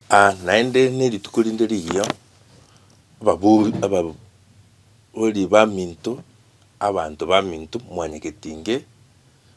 Aa naende nerituko rinde rigiya, ababori ababori baminto, abanto baminto mwanyagete inge,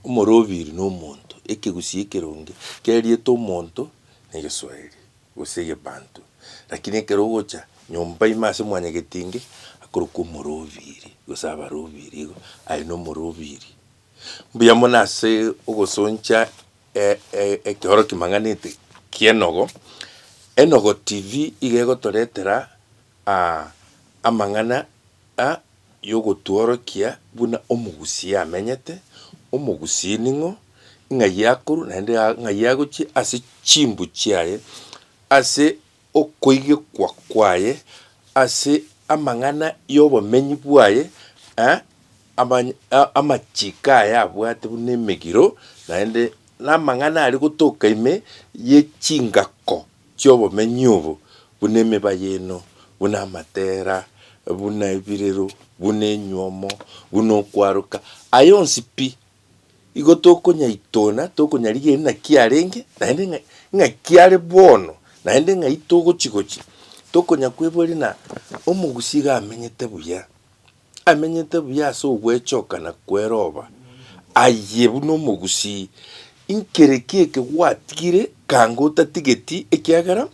omorobiri na omonto, ekegusii ekeronge keriete omonto na egeswaeri gose egebanto, rakini ekero ogocha nyomba ime ase mwanyagete inge, akorokwa omorobiri gose abarobiri igo, aye nomorobiri. Mbuya mono ase ogosoncha. E, e, ekeoro kimang'anete ki'enogo. Enogo TV iga egotoretera ah, amang'ana a yogotworokia buna omogusii amenyete, omogusii ning'o, ng'ai akorwa naende ng'ai agochia ase chimbu chiaye, ase. okoigekwa kwaye ase amang'ana y'obomenyi bwaye, amachiko aye abwate buna emegiro, naende namang'ana aria gotoka ime ye chingako chi'obomenyi obo, buna emeba y'eno, buna amatera, buna ebirero, buna enywomo, buna okwaroka, aya onsi pi Igo tokonyaitona, tokonyarigereria naki arenge, naende ng'a ng'aki are bono, naende ng'ai togochi gochia. Tokonya kweboria na omogusi iga amenyete buya, amenyete buya ase ogwechokana kweroba, aye buna omogusii, inkere ki eke gwatigire kanga otatigeti ekiagera,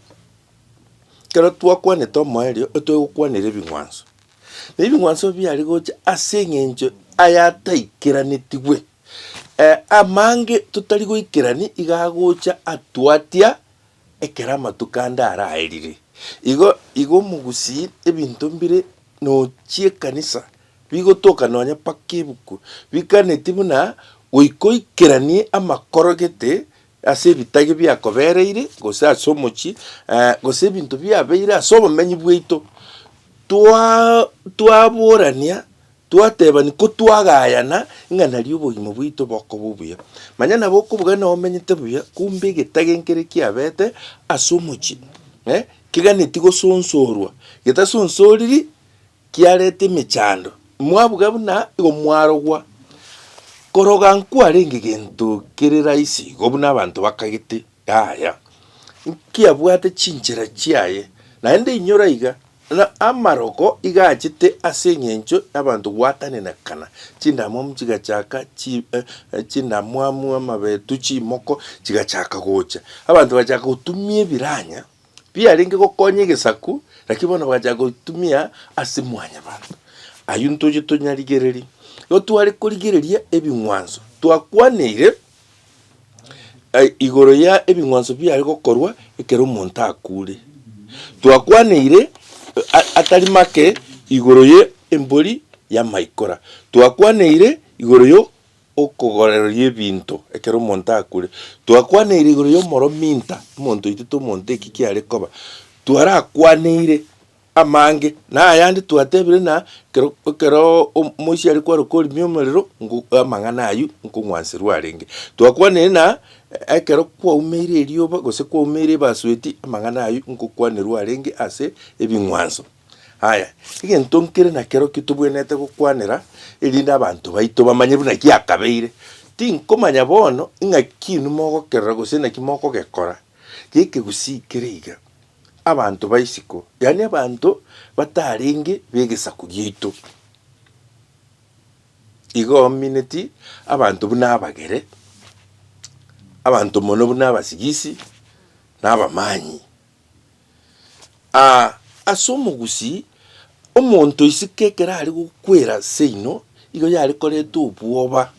ekero twakwanete omoerio, otoe gokwanera ebing'wanso. Na ebing'wanso ebio biare gocha ase eng'encho ayataikeranetigwe, eh, amange totari goikerania iga agocha atwatia ekero amatuko ande araerire. Igo igo omogusii ebinto mbire nochia ekanisa bigotoka nonya mpaka ebuku, bikaneti buna goika oikeranie amakoro gete ase ebitage biakobereire, gose ase omochie, gose ebinto biabeire ase obomenyi bwaito, twaborania, twatebania, ko twagayana ng'a nario obogima bwaito bokoba obuya. Manya nabo okobugani nao omenyete buya, kumbe egetage nkere kiabete ase omochie, keganeti gosonsorwa, getasonsoriri, kiareta emechando, mwabuga buna igo mwarogwa. Koroga nkwarenge gento kere rahisi igo buna abanto bakagete, yaya, nkiabwate chinchera chiaye, naende inyora iga, na amaroko iga achete ase eng'encho y'abanto gwatanenekana, chindamwamu chigachaka chi eh, chindamwamu, amabetu, chimoko chigachaka gocha, abanto bagachaka gotumia ebiranya. Biarenge gokonya egesaku, naki bono bagachaka goitumia ase mwanyabanto. Ayio ntoche tonyarigererie. Igo tware korigereria ebing'wanso twakwaneire eh, igoro ya ebing'wanso biare gokorwa ekero omonto akure. Twakwaneire eh, a- atari make igoro ye embori ya maikora. Twakwaneire igoro yo Okogorereria ebinto ekero omonto akure. Twakwanaire igoro y'omorominta, omonto oito tomonte eki kiare koba. Twarakwaneire amange, na ayande twatebire na ekero ekero omoisia are kwaroka orimia omorero ngo amang'ana ayio nkong'wanserwa arenge. Twakwanaire na ekero kwaumeire erioba gose kwaumeire ebasueti amang'ana ayio nkokwanerwa arenge ase ebing'wanso. Aya, egento nkere nakero ki tobwenerete gokwanera, erinde abanto baito bamanye buna giakabeire? Tinkomanya bono ing'aki inwe mogokerora gose naki mokogekora gekegusii kere iga, abanto baisiko, yaani abanto batarenge begesaku giaito, igo omineti abanto buna abagere, abanto mono buna abasigisi, na abamanyi. Aa, ase omogusii, omonto isiko ekero are gokwera seino, igo yare koreta obwoba,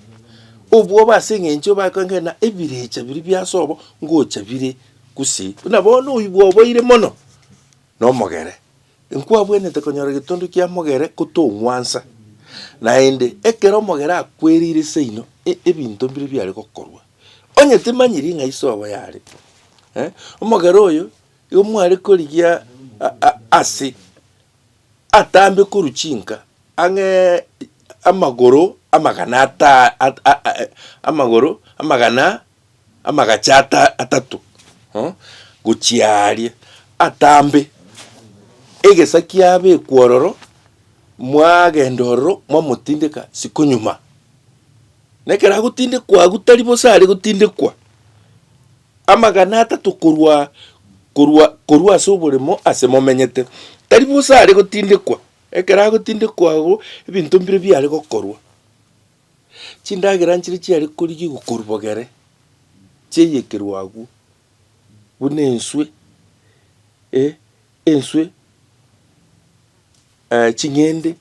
obwoba ase eng'encho bakoeng'ee ng'a ebirecha biria biase obo ngocha bire gusii, buna bono oibwa oboire mono nomogere. Inkwabwenete konyora getundu kia mogere gotong'wansa, naende ekero omogere akwerire seino e, ebinto mbire biare gokorwa. Onye timanyiri ng'a iso obo yare eh, omogere oyo igo mware korigia a- a- ase atambe korwa chinka ang'e amagoro amagana ata- a- a- a- amagoro amagana Amagacha atato gochia aaria atambe, egesa kiabekwa ororo, mwagenda ororo mwamotindeka isiko nyuma. Nekero agotindekwa agwo tari bosa are gotindekwa, amagana atato korwa korwa korwa ase oboremo ase momenyete, tari bosa are gotindekwa, ekero agotindekwa agwo ebinto mbire biare gokorwa. Chindagera nchiria chiare korigigwa korwa bogere, chiayekerwa agwo, buna enswe, eh, enswe, ching'ende,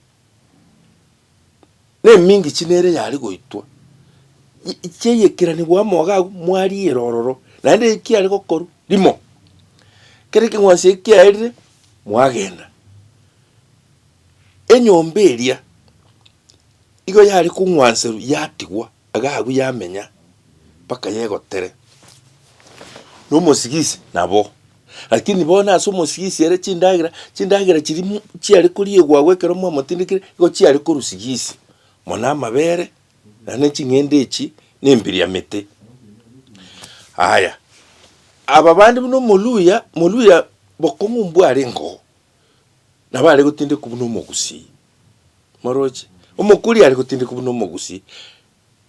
na emingi chinde ere yare goitwa, yi- yi- chiayekeranigwa amo iga agwo mwariire ororo, naende eki kiare gokorwa, rimo, kera ekeng'wanso eki kiaerire, mwagenda. Enyomba eria, igo yare kong'wanserwa yatigwa iga agwo yamenya mpaka yegotere. Na omosigisi nabo, lakini bono ase omosigisi ere chindagera, chindagera chiria mu chiare koriegwa agwo ekero mwamotindekire igo chiare korwa sigisi, mono amabere, naende ne ching'ende echi ne embiriamete. Aya, aba bande buna omoluya, moluya bokong'u mbware engogo, nabo are gotindekwa buna omogusii. Morooche. Omokuri are gotindekwa buna omogusi,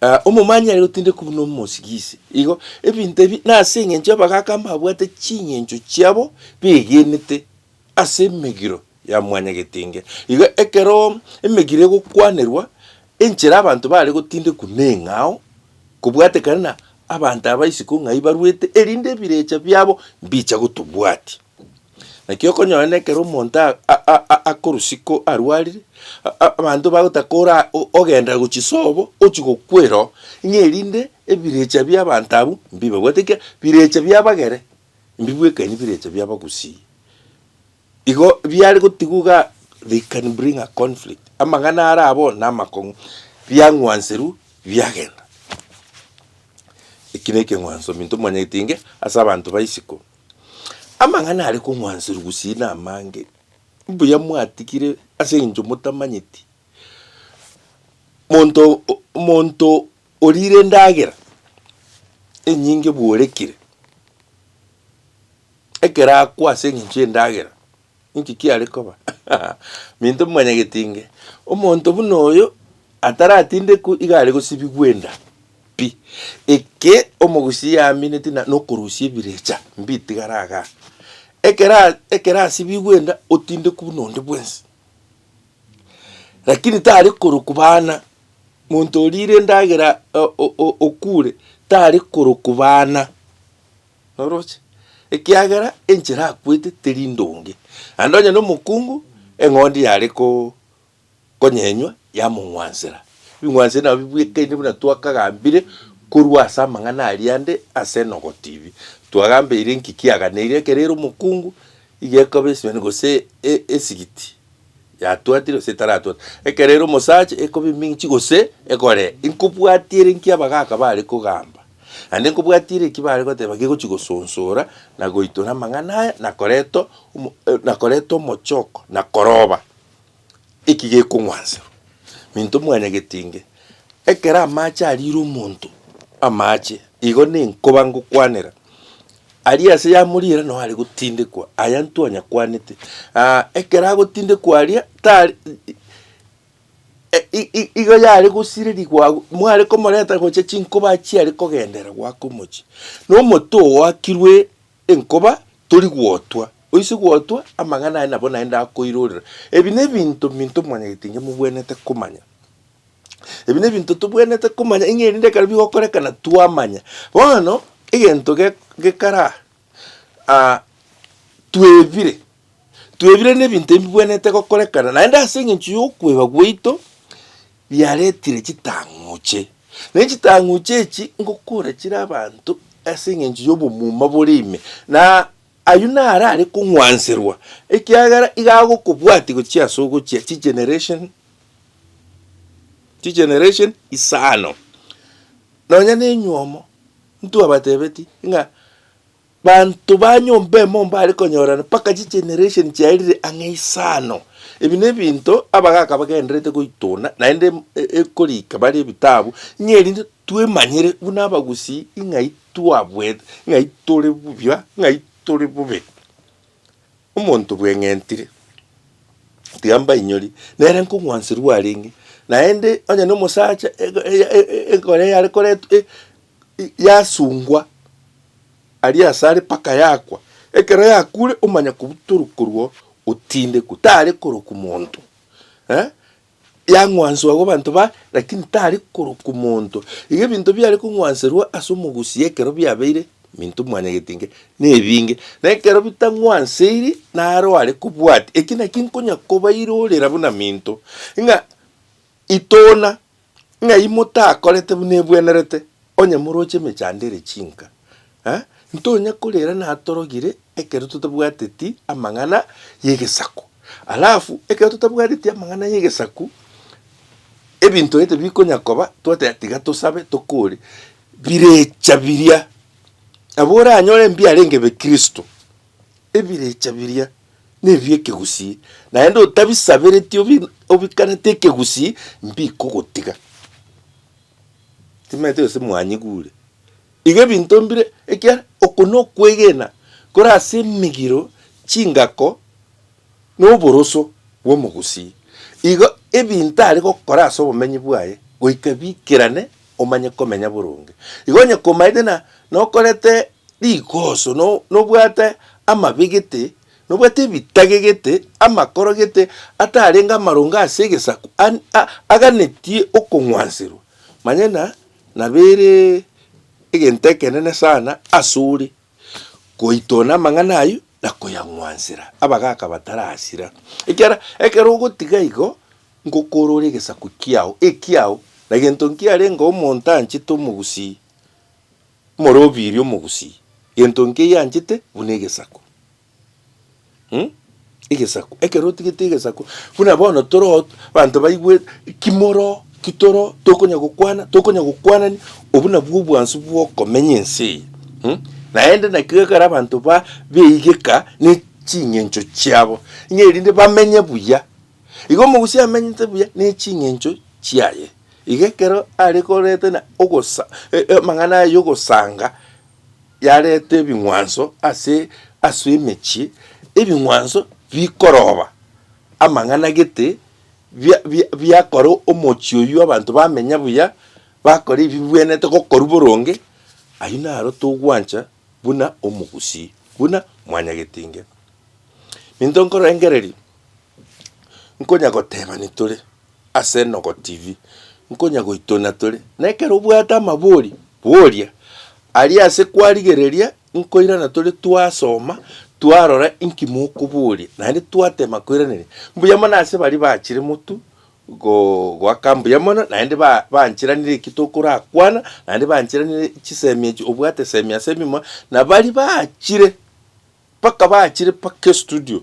ah, omomanyi are gotindekwa buna omosigisi. Igo, ebinto ebi nase eng'encho abagaaka mbabwate ching'encho chiabo begenete ase emegiro ya mwanyagetinge. Igo ekero emegiro egokwanerwa, enchera abanto bare gotindekwa neng'ao, kobwatekana na abanto aba isiko ng'ai barwete, erinde ebirecha biabo mbicha gotobwatia. Naki okonyora na ekero omonto a- a- a- a- akorusia ko arwarire, a- a- abanto bagotaka kora o- ogenda gochia sobo, ochia gokwera oo, ng'a erinde ebirecha bia abanto abwo mbibe. Bwate ekiagera, birecha bia abagere, mbibwekanie birecha bia abagusii. Igo biare gotigwa igaa, they can bring a conflict, amang'ana are abwo na amakong'u, biang'wanserwa biagenda. Eki na ekeng'wanso minto mwanyagete inge ase abanto ba isiko. Amang'ana are kong'wanserwa gusii namange, mbuya mwatigire ase engencho motamanyeti. Monto monto orire endagera enyinge bworekire, ekero akwa ase engencho yendagera. Inki kiare koba? Minto mwanyagetinge, omonto buna oyo ataratindekwe iga are gosibigwa enda pi. Eke omogusi yamineti na nokorusia ebirecha mbitigara iga. Ekero ekero asibigwe enda otindekwe buna onde bwensi. Lakini tare korokwa bana, monto orire endagera okure tare korokwa bana. noroche, ekiagera enchera akwete teri ndonge, naende onye nomokungu, eng'ondi yare ko konyenywa yamong'wansera. Ebing'wanso ebi nabo bibwekaine buna twakagambire korwa ase amang'ana aria ande ase Enogo TV. Twagambeire inki kiagana eria ekero ere omokungu, iga ekoba esimani gose e- esigiti yatwatire gose etaratwate. Ekero ere omosacha ekoba eminchi gose egoree. Inkobwatia ere nki abagaka bare kogamba. Naende nkobwatiire eki bare goteba gegochia gosonsora, na goitora amang'ana aya, na koreta omo na koreta omochoko, na koroba, eki gekong'wanserwa. Minto mwanyagete inge, ekero amache arire omonto, amache, igo nenkoba ngokwanera, aria ase yamorira noo are gotindekwa, aya ntwanyakwanete, ekero agotindekwa aria tari. E- i- i- igo yare gosirerigwa agwo, mware komoreta gocha chinkoba chiare kogendera goaka omochie, na omote oakirwe enkoba tori gwotwa, oise gwotwa amang'ana aye nabo naende akoirorera. Ebi nebinto minto mwanyagete inge mobwenerete komanya. Ebi nebinto tobwenerete komanya ing'e erinde ekero bigokorekana twamanya. Bono egento ge- gekara aa twebire. Twebire nebinto ebibwenerete gokorekana, naende ase engencho y'okweba gwaito biaretire chitang'uche. Ne chitang'uche echi ngokora chire abanto ase engencho y'obomuma bore ime, na ayio naro are kong'wanserwa, ekiagera iga agokobwatia gochia ase ogochia chigeneration chigeneration isano. Nonya nenywomo, intwe abatebetie ng'a Banto ba nyomba emo mbare konyorana mpaka chigeneration chiaerire ang'e isano. Ebi nebinto abagaaka bagendererete goituna, naende ekorika bare ebitabu, ng'a erinde twemanyere buna abagusii ng'ai twabwete, ng'ai tore buya, ng'ai tore bobe. Omonto bweng'entire, tiga mbainyori, nere nkong'wanserwa arenge, naende onye nomosacha egori eyare koretwa. yasungwa aria asare mpaka yakwa. Ekero yakure omanya kobua torokorwa otindekwe tare korokwa monto eh, yang'wanswa agwo abanto ba lakini tare korokwa monto. Iga ebinto biare kong'wanserwa ase omogusi ekero biabeire minto mwanyagete inke nebinge, na ekero bitang'wanseiri naro are kobwati. Eki naki nkonya kobairorera buna minto ng'a itona. Ng'ai motakorete buna ebwenerete onye moroche emechando ere chinka? Eh, ntonya korera natorogire ekero totabwateti amang'ana y'egesaku. Alafu ekero totabwateti amang'ana y'egesaku, ebinto gete bikonya koba, twateba tiga tosabe tokore, birecha biria. Nabo oranyore mbiarenge be Kristo. Ebirecha biria nebi'ekegusii, naende otabisabereti obikanete ekegusii, mbikogotiga. Timaete gose mwanyigu ore iga ebinto mbire, ekiagera oko nokwegena kore ase emegiro, chingako, na oboroso bw'omogusii. Igo ebinto are gokora ase obomenyi bwaye goika biikerane, omanye komenya boronge. Igo onye komaete na nokorete rikoso, no, nobwate amabe gete, nobwate ebitage gete, amakoro gete, atarenge amarongo ase egesaku, an, a, aganetie okong'wanserwa, manye na, nabere egento ekenene sana asore goitona amang'ana ayio na koyang'wansera, abagaka batarasira. Ekiara ekero ogotiga igo, ngokorora egesaku kiao, ekiao, na gento nkiarenge omonto anchete omogusii. Omorobiiri omogusii, gento nkeiyo anchete buna egesaku. Mh, egesaku, ekero otigete egesaku, buna bono toroo abanto baigwete, ki moroo, ki toroo, tokonya gokwana, tokonya gokwanania, obwo nabwo obwansu bwokomenya ense eye. Mh, naende nakio gekore abanto ba beigeka ne ching'encho chiabo, ng'a erinde bamenye buya. Igo omogusii amenyete buya ne ching'encho chiaye. Iga ekero are korete na ogosa, e- amang'ana aya y'ogosanga yarete ebing'wanso ase ase emechie, ebing'wanso bikoroba amang'ana gete bia- bia- biakora omochie oyio abanto bamenya buya, bakora ebibwenete gokorwa boronge, ayio naro togwancha buna omogusii, buna mwanyagetinge. Ninto nkorengereria. nkonya gotebani tore ase Enogo TV, nkonya goitona tore, na ekero obwate amabori, boria. Aria ase kwarigereria, nkoirana tore twasoma, twarora inki mokoboria, naende twatema koiraneria. Mbuya mono ase baria bachire motu go- goaka mbuya mono, naende ba- banchiranire eki tokorakwana, naende banchiranire chisemi echi, obwate semi ase ememoa, na baria bachire. Mpaka bachire mpaka estudio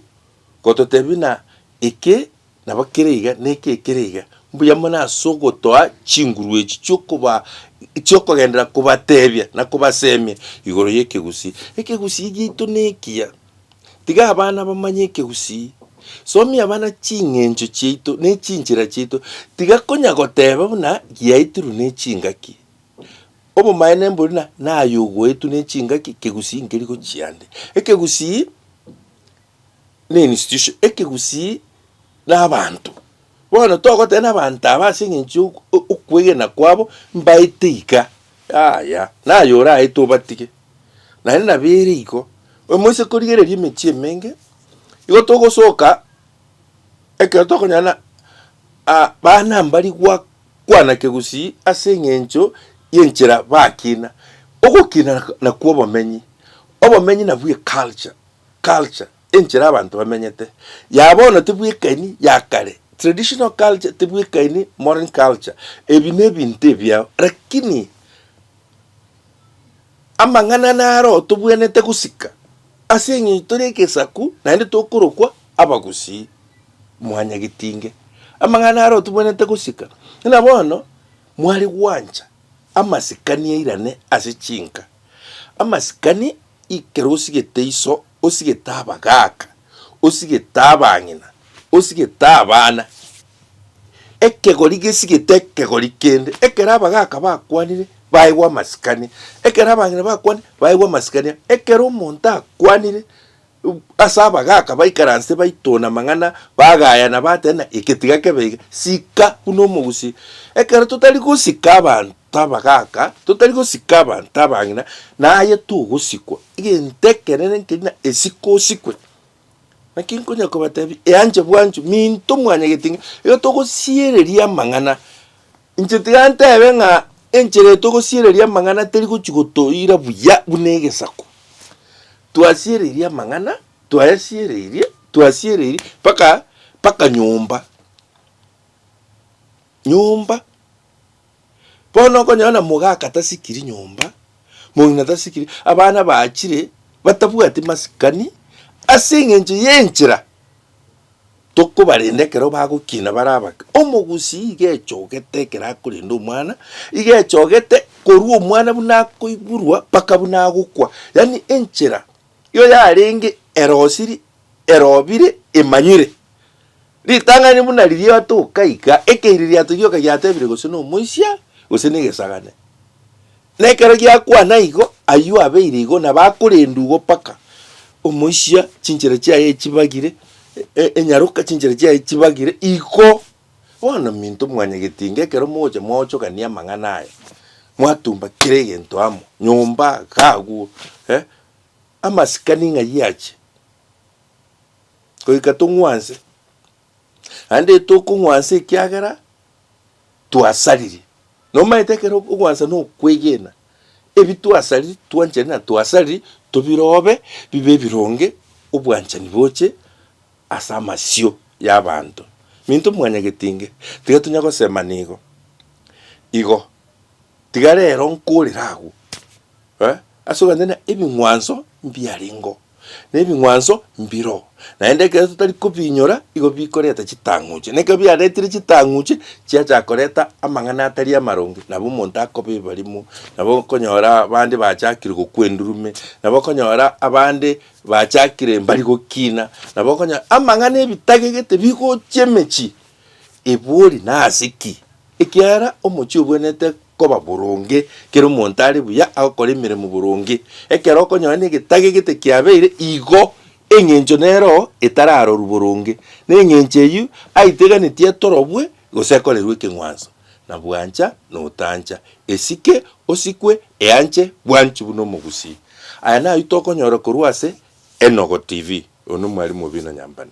gototebia na eke nabo kere iga na eke kere iga. Mbuya mono ase ogotoa chinguru echi chiokoba chiokogenderera kobatebia na kobasemia igoro y'ekegusii. Ekegusii giaito nekiya? Tiga abana bamanye ekegusii. Somia abana ching'encho chiaito ne chinchera chiaito. Tiga konya goteba buna giaitirwe ne chingaki. Obomaene mbori na naye ogoetwe ne chingaki, kegusii nkeri gochia ande. Ekegusii ne institution, ekegusii na abanto. Bono togoteba na abanto aba ase eng'encho ya o- okwegena kwabo mbaete iga, yaya, naye oraete obatige. Naende nabo ere igo, omoise korigereria emechie emenge, igo togosoka ekero tokonyora na abana mbari gwa. Kwana kegusii ase engencho y'enchera bakina. Ogokina nakwo obomenyi. Obomenyi nabwo eculture, culture, enchera abanto bamenyete ya bono tebwekaini ya kare, traditional culture tebwekaini modern culture. Ebi nebinto ebiao lakini amang'ana naro tobwenerete gosika ase engencho tore egesaku naende tokorokwa abagusii. mwanyagetinge amang'ana aria otubwenerete gosika, ng'a bono mware gwancha amasikani airane ase chinka, amasikani ekero osigete iso, osigete abagaaka, osigete abang'ina, osigete abana, ekegori gesigete ekegori kende, ekero abagaaka bakwanire baegwa amasikani, ekero abang'ina bakwanire baegwa amasikani, ekero omonto akwanire. Ase abagaaka baikaranse baitona amang'ana, bagayana, bateba, Eke tiga kebe iga, sika buna omogusi. Ekero totari gosika abanto abagaaka, totari gosika abanto abang'ina, naye togosikwa. Egento ekenene nkerina, esike osikwe. Naki nkonya kobatebia, eanche bwancho, minto mwanyagete ng'a, igo togosiereria amang'ana Inche tiga ntebe ng'a enchera eyo togosiereria amang'ana teri gochia gotoira buya buna egesaku. Twasiereirie amang'ana, twayasiereirie, twasiereirie mpaka, mpaka nyomba, nyomba. Bono okonyora na mogaka tasikiri nyomba, mong'ina tasikiri, abana bachire batabwati masikani ase eng'encho y'enchera. Tokobarenda ekero bagokina bare abake. Omogusii iga echogete ekero akorenda omwana, iga echogete korwa omwana buna akoiburwa mpaka buna agokwa. Yaani enchera yo yarenge erosiri, erobire, emanywire. Ritang'ani buna riria otoka iga, ekeiririato gioka giatebire gose nomoisia, gose negesagane. Na ekero giakwana igo, ayio abeire igo, na bakorenda ugo mpaka omoisia chinchera chiaye echibagire, e- enyaroka chinchera chiaye chibagire igo. Bono minto mwanyagetinga, ekero mogocha mwaochogania amang'ana aya, mwatumba kera egento amo, nyomba, iga agwo, eh, amasikani ng'ai ache, goika tong'wanse, Naende tokong'wansa ekiagera twasariri. Nomaete ekero okong'wansa na okwegena, ebi twasariri, twanchani na twasariri tobirobe bibe ebironge obwanchani boche ase amasio y'abanto. Minto mwanyagetinge, tiga tonya gosemana igo, igo, tiga rero nkorere agwo, eh, as'oganchana ebing'wanso mbiarengeo. Nebing'wanso mbiro, naende ekero totari kobiinyora igo bikoreta chitang'uche. Na ekero biaretire chitang'uche, chiachaka koreta amang'ana atari amaronge, nabo omonto akoba ebarimo, nabo okonyora abande bachakire gokwa endurume, nabo okonyora abande bachakire mbari gokina, nabo okonya amang'ana ebitagegete bigochia emechie. Ebori nase ki? Ekiagera omochie obwenerete koba boronge, kera omonto are buya agokora emeremo boronge. Ekero okonyora negetage gete kiabeire igo, engencho nero etararorwe boronge, na engencho eyio aiteganetie etorobwe gose ekorerwe ekeng'wanso, na bwancha na otancha, esike, osikwe, eanche bwanchi buna omogusii. Aya nayio tokonyora korwa ase Enogo TV. Oyo nomwarimu o Bino Nyambane.